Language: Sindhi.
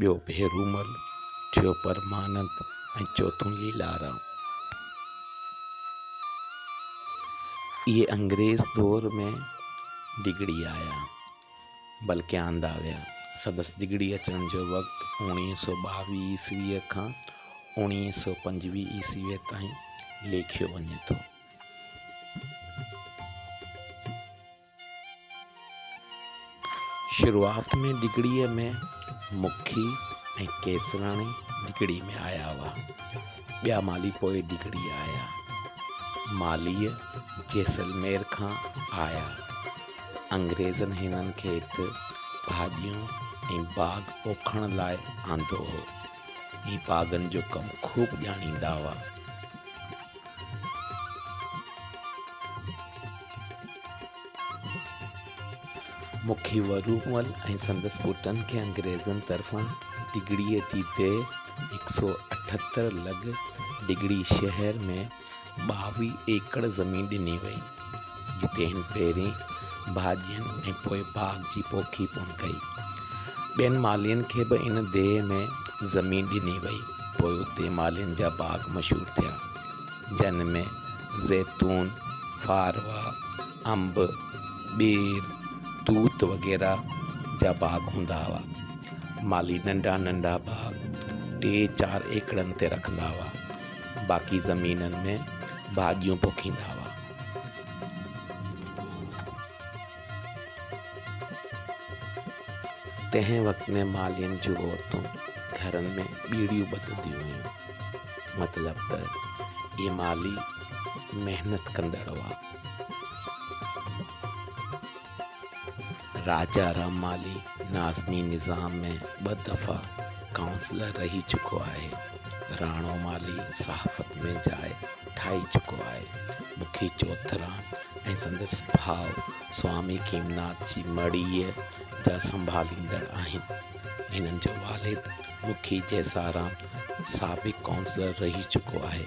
ٻيو ڀيرومل، ٽيون پرمانند ۽ چوٿون ليلارام. اهي انگريز دور ۾ ڊگهڙي آيا، بلڪ آندا ويا. سندس ڊگهڙي اچڻ جو وقت اوڻيهه سؤ ٻاويهه عيسويء کان اوڻيهه سؤ پنجويهه عيسويء تائين ليکيو وڃي ٿو. شروعات ۾ ڊگهڙيء ۾ مکي ۽ ڪيسراڻي ڊگهڙي ۾ آيا هئا. ٻيا مالهي پوء ڊگهڙي آيا. مالهيء جيسلمير کان آيا. انگريزن هنن کي هت ڀاڄيون ۽ باغ پوکڻ لاء آندو هو. هي باغن جو ڪم خوب ڄاڻيندا هئا. مکي ورومل ۽ سندس پٽن کي انگريزن طرفان ڊگهڙي جي ديهه هڪ سؤ اٺهتر لڳ ڊگهڙي شهر ۾ ٻاويهه ايڪڙ زمين ڏني وئي جتي هن پهرين ڀاڄين ۽ پوء باغ جي پوکي پڻ ڪئي. ٻين مالهين کي به ان ديهه ۾ زمين ڏني وئي. پوء اتي مالهين جا باغ مشهور ٿيا، جن ۾ زيتون، ڦاروا، انب، ٻير، توت وغيره جا باغ هوندا هئا. مالهي ننڍا ننڍا باغ ٽي چار ايڪڙن تي رکندا هئا. باقي زمينن ۾ ڀاڄيون پوکيندا هئا. تنهن وقت ۾ مالين جون عورتون گهرن ۾ ٻيڙيون ٻڌنديون هيون. مطلب ته اهي مالي محنت ڪندڙ هئا. راجا رحمالي ناظمي نظام ۾ ٻه دفعا ڪائونسلر رهي چڪو آهي. راڻو مالهي صحافت ۾ جاء ٺاهي چڪو آهي. مکي چوئٿرام ۽ سندس ڀاء سوامي کيمناٿ جي مڙهيء جا سنڀاليندڙ آهن. هنن جو والد مکي جيسارام سابق ڪائونسلر رهي چڪو آهي.